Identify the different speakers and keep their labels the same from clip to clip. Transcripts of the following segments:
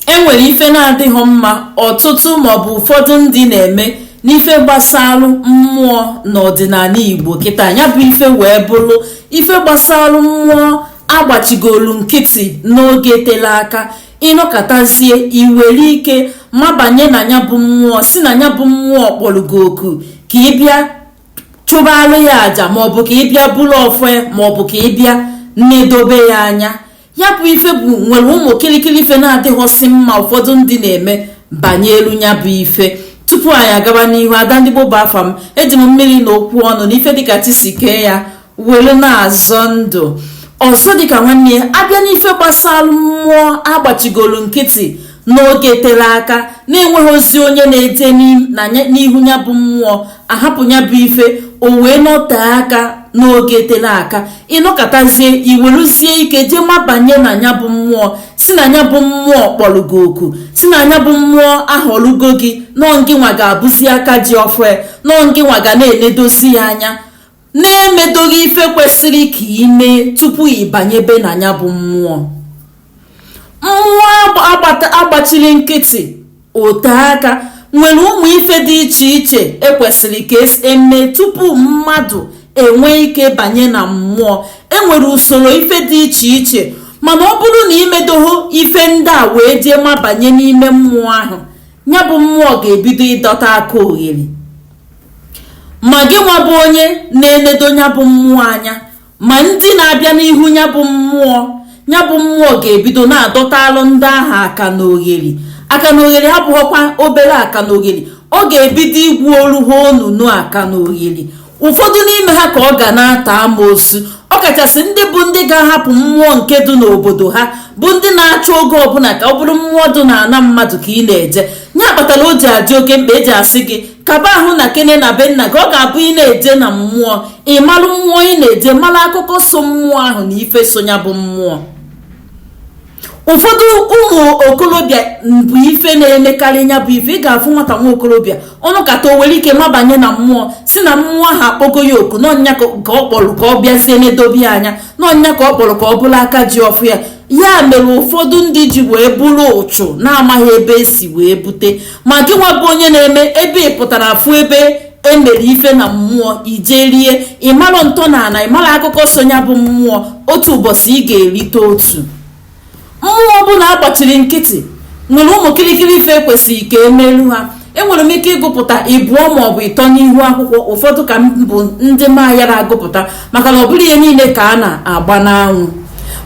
Speaker 1: e nwere ife na-adịghị mma ọtụtụ maọbụ ụfọdụ ndị na-eme n'ife gbasalụ mmụọ n'ọdịnana igbo kịta ya bụ ife wee bụrụ ife gbasalụ mmụọ agbachigolu nkịtị n'oge tele aka ịnọkatazie iwere ike mabanye na ya bụ mmụọ si na ya bụ mmụọ kpọrọ gị oku ka ị bịa chụbara ya aja maọbụ ka ị bịa bulu ọfọ ya maọbụ ka ị bịa nedobe ya anya ya bụ ife bụ nwere ụmụ kịrịkịrị ife na-adịghọsị mma ụfọdụ ndị na-eme banyelu ya bụ ife tupu anyị agaba n'ihu ada ndị gboo bụ afa m eji m mmiri na okwu ọnụ na ife dịka chi si kee ya were na-azọ ndụ ọzọ dịka nwanne ya abịa n'ife gbasara mmụọ agbachigolu nkịtị n'oge tere aka na-enwehozi onye na-eje n'ihu ya bụ mmụọ ahapụ ya bụ ife o wee nọtee aka n'oge tere aka ịnọkatazie iweluzie ike jee mabanye na ya bụ mmụọ si na ya bụ mmụọ kpọrọ gị oku si na ya bụ mmụọ ahọlugo gị na ọ ngịnwa ga-abụzi aka ji ọfọ ya na ọ ngịnwa ga na-enedozi ya anya na-emedoghị ife kwesịrị ka ime tupu ịbanyebe na ya bụ mmụọ mmụọ agbachiri nkịtị ote aka nwere ụmụ ife dị iche iche ekwesịrị ka emee tupu mmadụ enwee ike banye na mmụọ enwere usoro ife dị iche iche mana ọ bụrụ na imedoho ife ndị a wee jee mabanye n'ime mmụọ ahụ ya bụ mmụọ ga-ebido ịdọta akaogheri ma gị nwa bụ onye na-enedo ya bụ mmụọ anya ma ndị na-abịa n'ihu ya bụ mmụọ ya bụ mmụọ ga-ebido na-adọtalụ ndị ahụ akanogheri akanogheri abụghọkwa obere akanogheri ọ ga-ebido gwuolu ha onunu akanogheri ụfọdụ n'ime ha ka ọ ga na-ata amoosu ọ kachasị ndị bụ ndị ga-ahapụ mmụọ nke dị n'obodo ha bụ ndị na-achọ oge ọbụla ka ọ bụrụ mmụọ dị n'ana mmadụ ka ị na-eje nya kpatara o ji adị oke mkpa eji asị gị kaba ahụ na kene na be nna gị ọ ga-abụ ị na-eje na mmụọ ị malụ mmụọ ị na-eje malụ akụkọ so mmụọ ahụ na ife so ya bụ mmụọ ụfọdụ ụmụ okorobịa bụ ife na-emekarị ya bụ ife ị ga-afụ nwata nwa okorobịa ọ nọkata o were ike mabanye na mmụọ si na mmụọ ahụ akpọgo ya oku na ọ nya ka ọ kpọrọ ka ọ bịazie nedobe ya anya na ọ nya ka ọ kpọrọ ka ọ bụrụ aka ji ọfọ ya ya mere ụfọdụ ndị ji wee buru ụchụ na-amaghị ebe esi wee bute ma gị nwa bụ onye na-eme ebe ị pụtara afụ ebe emere ife na mmụọ ije rie ịmarọ ntọnana ịmarọ akụkọ so ya bụ mmụọ otu ụbọchị ị ga-erite otu mmụọ ọbụla agbachiri nkịtị nwere ụmụ kirikiri ife kwesịrị ka emelu ha enwere m ike ịgụpụta ịbụọ maọbụ ịtọ n'ihu akwụkwọ ụfọdụ ka bụ ndị m ayara agụpụta maka na ọ bụrọ ihe niile ka a na-agba n'anwụ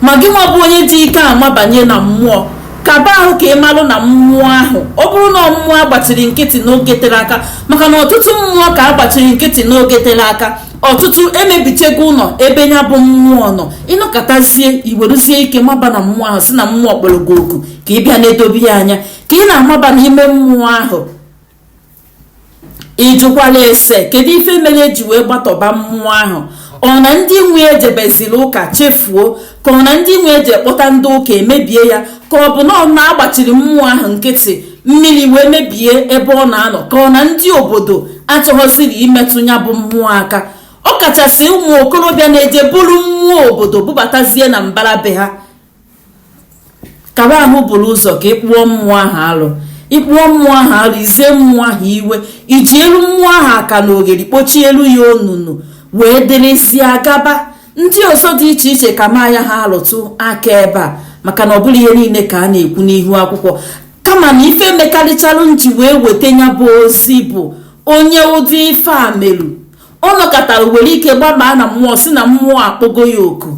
Speaker 1: ma gị nwa bụ onye ji ike amabanye na mmụọ kaba ahụ ka ị malụ na mmụọ ahụ ọ bụrụ na mmụọ agbachiri nkịtị n'oge tere aka maka na ọtụtụ mmụọ ka agbachiri nkịtị n'oge tere aka ọtụtụ emebichego ụlọ ebe ya bụ mmụọ nọ ị nọkatazie i weruzie ike maba na mmụọ ahụ si na mmụọ kpọrọ gị oku ka ị bịa na-edobe ya anya ka ị na-amaba n'ime mmụọ ahụ ị jụkwara ese kedu ife mere eji wee gbatọba mmụọ ahụ ọ na ndị nwe e jebeziri ụka chefuo ka ọ na ndị nwe e je kpọta ndị ụka emebie ya ka ọ bụ na ọ na agbachiri mmụọ ahụ nkịtị mmiri wee mebie ebe ọ na-anọ ka ọ na ndị obodo achọghọziri imetụ ya bụ mmụọ aka ọ kachasị ụmụ okorobịa na-eje buru mmụọ obodo bubatazie na mbara be ha kaba ahụ buru ụzọ ka ị kpụọ mmụọ ahụ alụ ị kpụọ mmụọ ahụ alụ ize mmụọ ahụ iwe iji elu mmụọ ahụ aka na oghere kpochie elu ya onunu wee dịrịzie gaba ndị ọzọ dị iche iche kama a yaha alụtụ aka ebe a maka na ọ bụrọ ihe niile ka a na-ekwu n'ihu akwụkwọ kama na ife mekarịcharụ nji wee weta ya bụ ozi bụ onye ụdị ife a meru ọ nọkatara were ike gbabaa na mmụọ si na mmụọ akpọgo ya oku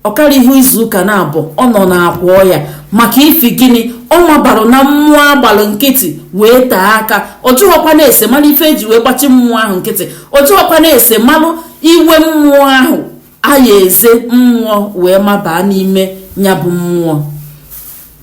Speaker 1: ọ karịhọ izu ụka naabọ ọ nọ na akwa ọya maka ifi gịnị ọ mabarụ na mmụọ agbalụ nkịtị wee tee aka ọ jụghọkwanụ ese malụ ife eji wee gbachi mmụọ ahụ nkịtị ọ jụghọkwanụ ese malụ iwe mmụọ ahụ a ya-eze mmụọ wee mabaa n'ime ya bụ mmụọ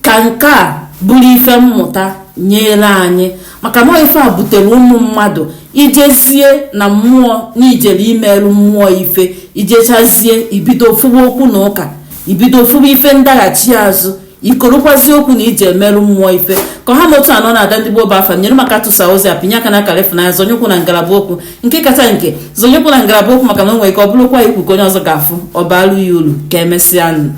Speaker 1: ka nke a bụrụ ife mmụta nyere anyị maka na ife a butere ụmụ mmadụ ijezie na mmụọ na i jere imerụ mmụọ ife ijechazie ibido fụwa okwu na ụka ibido fụwa ife ndaghachi azụ ikorokwazi okwu na iji emerụ mmụọ ife ka ọ ha m otu anọ na ada ndị gboo bụ afa nyere m aka tụsa ozi a pinye aka na akara ịfụnanya zonyekwu na ngalaba okwu nke kacha nke zonyekwu na ngalaba okwu maka na o nwere ike ọ bụrụkwa ikwu ka onye ọzọ ga-afụ ọ baalụ ya uru ka emesịa